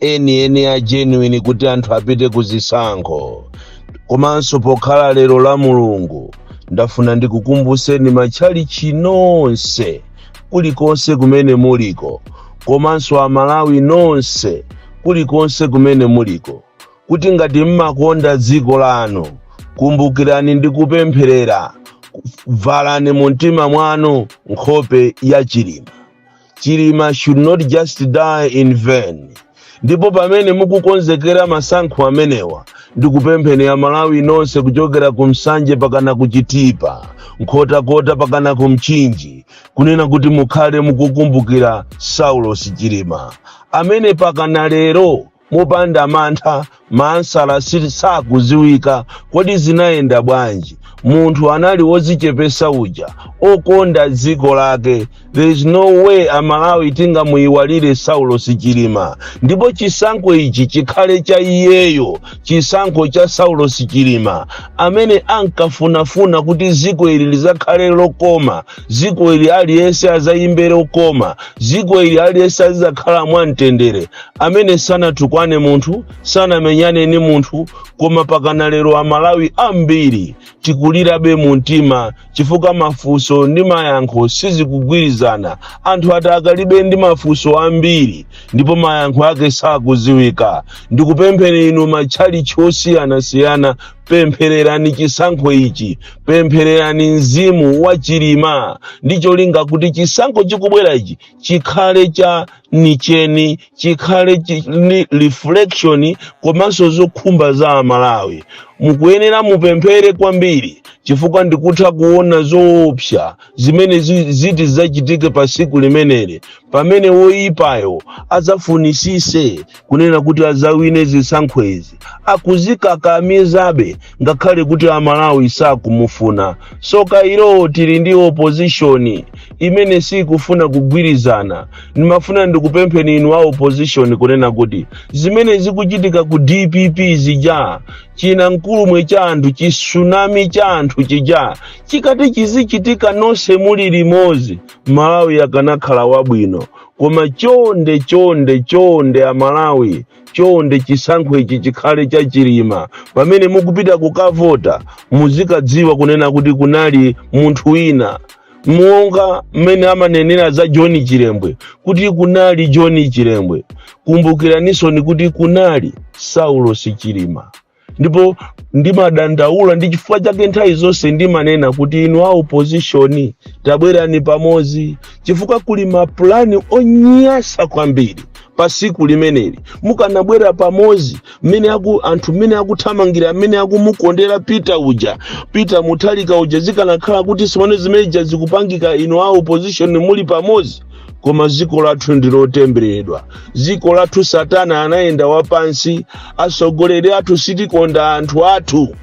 eni eni a genuine kuti anthu apite ku zisankho komanso pokhala lero la mulungu ndafuna ndikukumbuseni matchalichi nonse kulikonse kumene muliko komanso amalawi nonse kulikonse kumene muliko kuti ngati mmakonda dziko lanu kumbukirani ndi kupempherera valani mu mtima mwanu nkhope ya chilima chilima should not just die in vain ndipo pamene mukukonzekera masankho amenewa ndikupempheni amalawi nonse kuchokera ku nsanje pakana ku chitipa nkhotakota pakana ku mchinji kunena kuti mukhale mukukumbukira saulos chilima amene pakana lero mopanda mantha maansala sakuziwika kodi zinayenda bwanji munthu anali wozichepesa uja okonda dziko lake there is no way amalawi tingamuyiwalire saulos chilima ndipo chisankho ichi chikhale cha iyeyo chisankho cha saulos chilima amene ankafunafuna kuti dziko ili lizakhale lokoma dziko ili aliyense adzayimbe lokoma dziko ili aliyense azidzakhala mwamtendere amene sanatukwane munthu sanamenyane ni munthu koma pakana lero amalawi ambiri tikulirabe mu mtima chifukwa mafunso ndi mayankho sizikugwirizana anthu atikalibe ndi mafunso ambiri ndipo mayankho ake sakudziwika ndikupempheni inu matchalichi osiyanasiyana pemphererani chisankho ichi pemphererani mzimu wa chilima ndi cholinga kuti chisankho chikubwera ichi chikhale cha nicheni chikhale ni reflection komanso zokhumba za amalawi mukuyenera mupemphere kwambiri chifukwa ndikutha kuona zoopsa zimene ziti zachitike pa siku limeneli pamene woyipayo adzafunisise kunena kuti adzawine zisankho izi akuzikakamizabe ngakhale kuti amalawi sakumufuna soka ilowo tili ndi opozishoni imene sikufuna kugwirizana ndimafuna ndikupempheni inu a opozishoni kunena kuti zimene zikuchitika ku dpp zija chinamkulumwe cha anthu chisunami cha anthu chija chikati chizichitika nonse muli limodzi malawi akanakhala wabwino koma chonde chonde chonde amalawi chonde chisankho ichi chikhale cha chilima pamene mukupita kukavota muzikadziwa kunena kuti kunali munthu wina monga mmene amanenera za john chilembwe kuti kunali john chilembwe kumbukiranisoni kuti kunali saulos chilima ndipo ndimadandaula ndi chifukwa chake nthawi zonse ndimanena kuti inu a opposition tabwerani pamodzi chifukwa kuli mapulani onyasa kwambiri pa siku limeneli mukanabwera pamodzi mmene aku anthu mmene akuthamangira amene akumukondera peter uja peter mutharika uja zikanakhala kuti simone zimeneja zikupangika inu a opposition muli pamodzi koma dziko lathu ndi lotemberedwa dziko lathu satana anayenda wapansi atsogoleri athu sitikonda anthu athu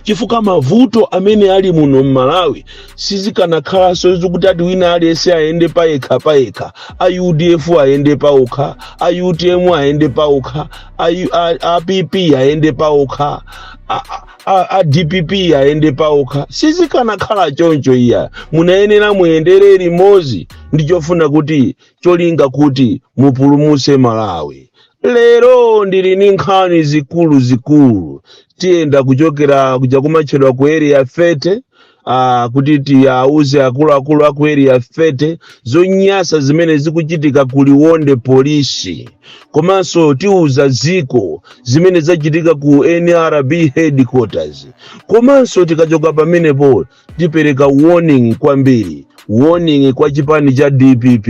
chifukwa mavuto amene ali muno m'malawi sizikanakhalanso zokuti ati wina aliyense ayende payekha payekha a udf ayende paokha a utm ayende paokha a, U- a, a pp ayende paokha a, a, a, a dpp ayende paokha sizikanakhala choncho iya munayenera muyendere limodzi ndi chofuna kuti cholinga kuti mupulumutse malawi lero ndili ni nkhani zikuluzikulu tiyenda kuchokera kuja kumatchedwa ku area 30 Ah, kuti tiyauze akuluakulu a ku area 30 zonyasa zimene zikuchitika ku liwonde polisi komanso tiuza ziko zimene zachitika ku nrb headquarters komanso tikachoka pamenepo tipereka warning kwambiri warning kwa chipani cha dpp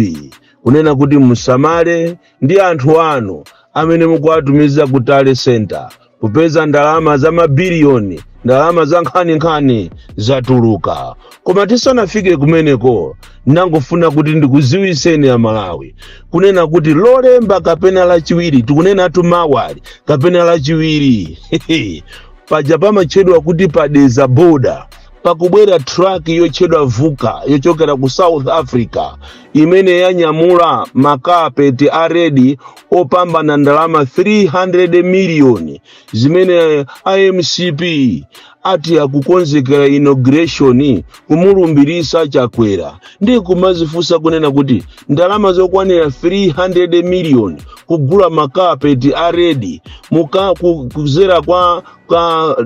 kunena kuti musamale ndi anthu anu amene mukuwatumiza ku tally center kupeza ndalama za mabiliyoni ndalama za nkhaninkhani zatuluka koma tisanafike kumeneko ndangofuna kuti ndikuziwiseni a malawi kunena kuti lolemba kapena lachiwiri tikunenatu mawali kapena lachiwiri paja pamatchedwa kuti pa dedza boda pakubwera truck yotchedwa vuka yochokera ku south africa imene yanyamula makapeti a redi opambana ndalama 300 miliyoni zimene a mcp ati akukonzekera inauguration kumulumbirisa chakwera ndi kumazifunsa kunena kuti ndalama zokwanira 300 miliyoni kugula makapeti a redi muka ku- kuzera kwa ka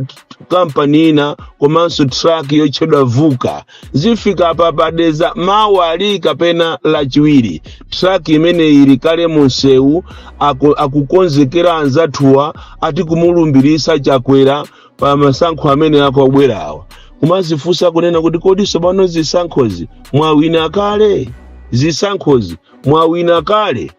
kampani ina komanso truck yotchedwa vuka zifika pa pa dedza mawali kapena lachiwiri truck imene ili kale munsewu aku- akukonzekera anzathuwa ati kumulumbirisa chakwera pa masankho amene akubwerawa kumazifunsa kunena kuti kodi tsopano zisankhozi mwawina kale zisankhozi mwawina kale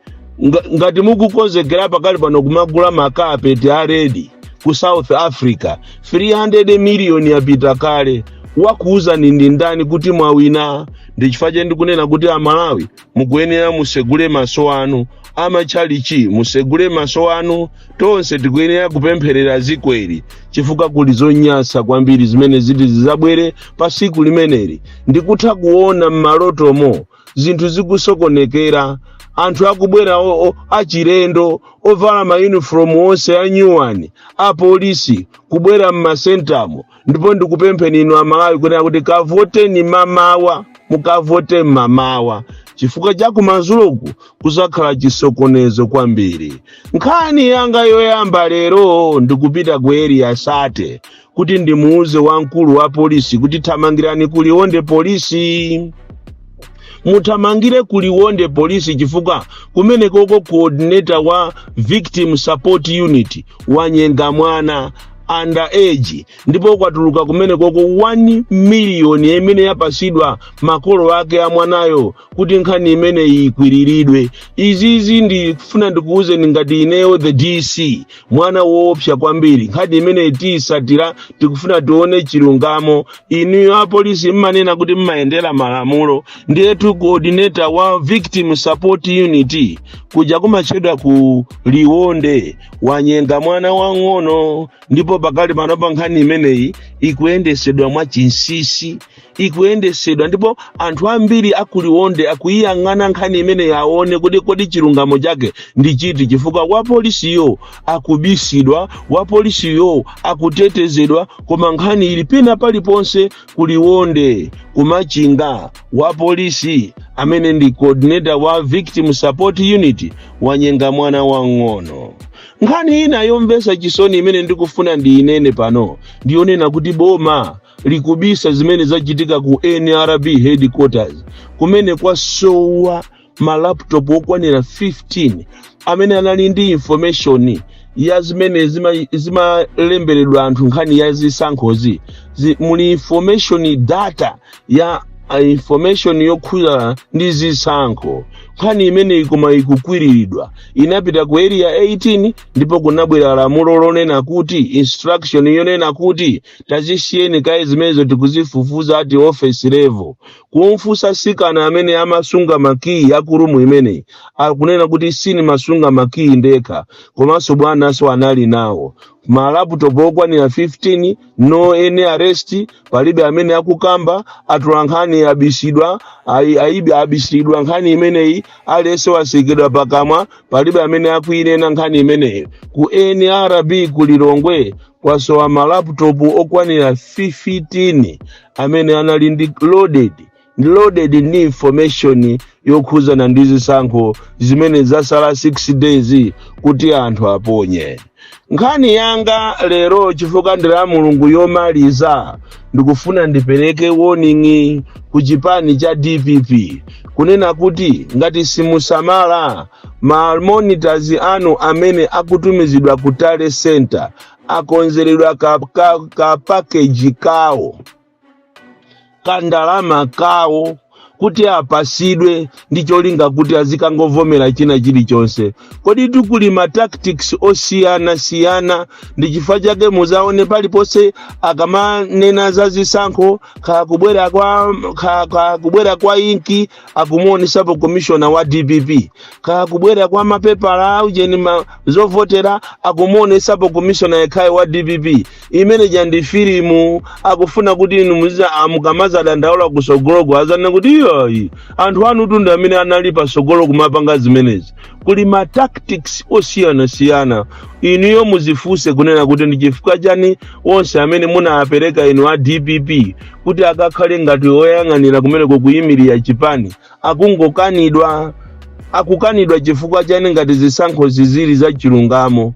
Nga, ngati mukukonzekera pakali pano kumagula makapeti a redi ku south africa 300 miliyoni yapita kale wakuwuzani ndi ndani kuti mwawina ndi chifukwa chake ndikunena kuti amalawi mukuyenera musegule maso anu amatchalichi musegule maso anu tonse tikuyenera kupempherera zikweri chifukwa kuli zonyasa kwambiri zimene ziti zizabwere pa siku limeneli ndikutha kuona m'malotomo zinthu zikusokonekera anthu akubwera o- o- achilendo ovala mayunifomu wonse anyuwani apolisi kubwera m'masentamo ndipo ndikupempheni inu amalawi kunena kuti kavoteni mamawa mukavote mamawa chifukwa cha kumazuloku kuzakhala chisokonezo kwambiri nkhani yanga yoyamba lero ndikupita ku eriya sate kuti ndimuuze wamkulu wa polisi kuti thamangirani ku liwonde polisi muthamangire ku liwonde polisi chifukwa kumenekoko coordinator wa victim support unit wanyenga mwana under age ndipo kwatuluka kumenekoko 1 miliyoni imene yapasidwa makolo ake a mwanayo kuti nkhani imeneyi ikwiriridwe izizi ndifuna ndikuwuze ngati ineyo the dc mwana woopsa kwambiri nkhani imeneyi tiyisatira tikufuna tione chilungamo inuyo apolisi mmanena kuti mmayendera malamulo ndiyetu coordinator wa victim support unit kuja kumatchedwa ku liwonde wanyenga mwana wang'ono ndipo pakali panopa nkhani imeneyi ikuyendesedwa mwa chinsisi ikuyendesedwa ndipo anthu ambiri akuliwonde akuyiyang'ana nkhani imeneyi aone kuti kodi chilungamo chake ndi chiti chifukwa wapolisiyo akubisidwa wapolisiyo akutetezedwa koma nkhani ili pena paliponse kuliwonde kumachinga wapolisi amene ndi coordinator wa victim support unit wanyenga mwana wang'ono nkhani ina yomvesa chisoni imene ndikufuna ndiyinene pano ndiyonena kuti boma likubisa zimene zachitika ku nrb headquarters kumene kwasowa malaptop okwanira 15 amene anali ndi information ya zimene zima- zimalemberedwa anthu nkhani ya zisankhozi Zi- muli information data ya a information yokhuzana ndi zisankho nkhani imeneyi koma ikukwiriridwa inapita ku area 18 ndipo kunabwera lamulo lonena kuti instruction yonena kuti tazisiyeni kaye zimenezo tikuzifufuza ati office level kumfunsa sikana amene amasunga makiyi a ku room imeneyi akunena kuti sinimasunga makiyi ndekha komanso bwananso anali nawo malaputopu okwanira 15 no any arrest palibe amene akukamba atula nkhani abisidwa ayi- ayibi abisidwa nkhani imeneyi aliyense watsekedwa pakamwa palibe amene akuinena nkhani imeneyi ku nrb ku lilongwe kwasowa malaputopu okwanira 15 amene anali ndi loaded ndi loaded ndi information yokhuzana ndi zisankho zimene zasala 6 days kuti anthu aponye nkhani yanga lero chifukwa ndi la mulungu yomaliza ndikufuna ndipereke warning ku chipani cha dpp kunena kuti ngati simusamala ma monitors anu amene akutumizidwa ku tally center akonzeredwa ka, ka, ka package kawo kandalama kawo kuti apasidwe ndi cholinga kuti azikangovomera china chilichonse koditu kuli ma tactics osiyanasiyana ndi chifukwa chake muzaone paliponse akamanena za zisankho kakubwera kwa ka- kakubwera kwa inki akumuonesapo komishona wa dpp kaya kubwera kwa mapepala aujeni ma zovotera akumuonesapo komishona yekhayo wa dpp imene ija ndi filimu akufuna kuti inu muziza a mukamaza dandaula kusogoloko azanene kuti iyayi anthu anutu ndi amene anali pasogolo kumapanga zimenezi kuli ma tactics osiyanasiyana inuyo muzifunse kunena kuti ndi chifukwa chani onse amene munawapereka inu a dpp kuti akakhale ngati oyang'anira kumeneko kuyimirira chipani akungokanidwa akukanidwa chifukwa chani ngati zisankhozi zili za chilungamo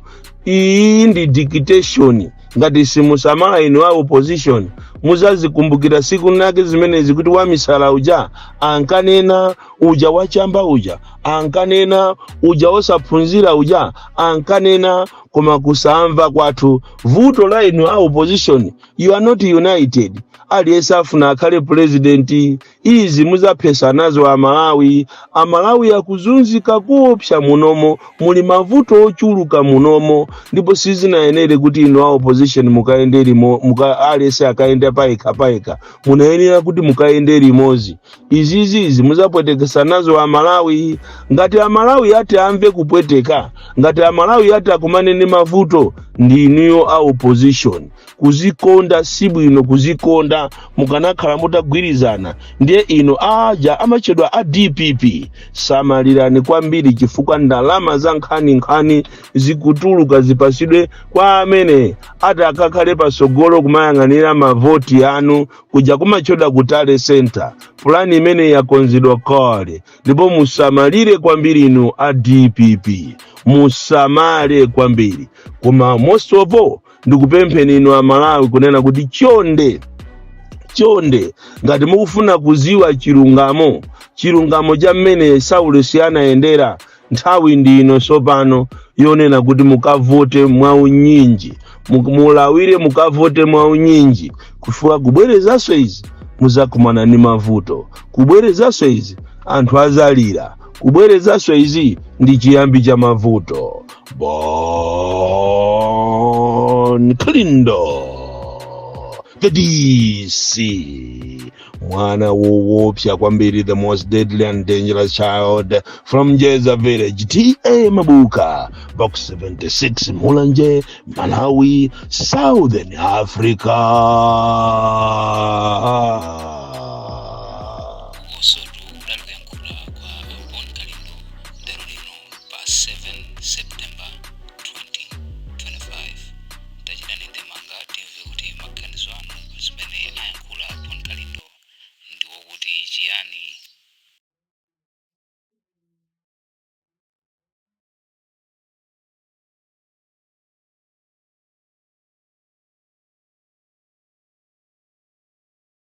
iyi ndi dictation ngati simusamala inu a opposition muzazikumbukira siku lake zimenezi kuti wamisala uja ankanena uja wachamba uja ankanena uja osaphunzira uja ankanena koma kusamva kwathu vuto la inu a opposition you are not united aliyense afuna akhale purezidenti izi muzaphetsa nazo amalawi amalawi akuzunzika kuopsa munomo muli mavuto ochuluka munomo ndipo sizinayenere kuti inu a opposition mukayende limo- muka- aliyense akayenda payekha payekha munayenera kuti mukayende limodzi izizizi muzapwetekesa nazo amalawi ngati amalawi ati amve kupweteka ngati amalawi ati akumane ndi mavuto ndi inuyo a opposition kuzikonda si bwino kuzikonda mukanakhala mutagwirizana ndiye inu aja amatchedwa a dpp samalirani kwambiri chifukwa ndalama za nkhaninkhani zikutuluka zipatsidwe kwa amene ati akakhale patsogolo kumayang'anira mavoti anu kuja kumatchedwa ku tally center pulani imene yakonzedwa kale ndipo musamalire kwambiri inu a dpp musamale kwambiri koma most of all ndikupempheni inu amalawi kunena kuti chonde chonde ngati mukufuna kuziwa chilungamo chilungamo cha mmene saulos anayendera nthawi ndi ino tsopano yonena kuti mukavote mwaunyinji mulawire mukavote mwaunyinji chifukwa kubwerezanso izi muzakumana ndi mavuto kubwerezanso izi anthu azalira kubwerezanso izi ndi chiyambi cha mavuto bon kalindo the dc mwana woopsa kwambiri the most deadly and dangerous child from jeza village ta mabuka box 76 mulanje malawi southern africa azotilankhula kwa Bon Kalindo lero lino pa 7 September 2025 tachitani ndemanga timve kuti maganizo anu pa zimene ayankhula a bon kalindo ndiwo kuti chiyani